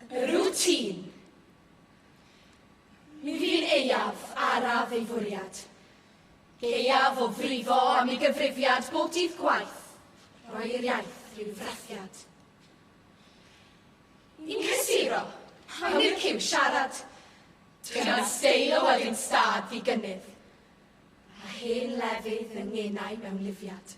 Rwtîn. Mi fu'n aeaf araf ei fwriad. Gaeaf o frifo am ei gyfrifiad bob dydd gwaith, rhoi i'r iaith ryw frathiad. Yn cysuro, awn i'r ciw siarad. Dyna steil o elyn stad ddigynnydd, a hen lefydd yng ngenau mewnlifiad.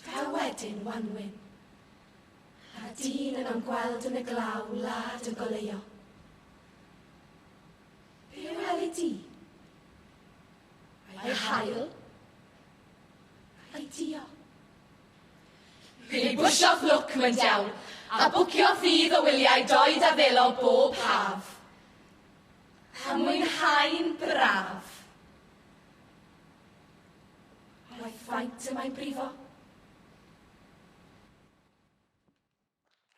Fel wedyn wanwyn, a dyn yn am gweld yn y glaw wlad yn goleuo. Be a weli di? Ai hael? Ai dio? Pili bwsio'ch lwc, mae'n diawl, a bwcio ffydd o wyliau doed a ddelo bob haf. A mwynhau'n braf. Roedd faint y mae brifo.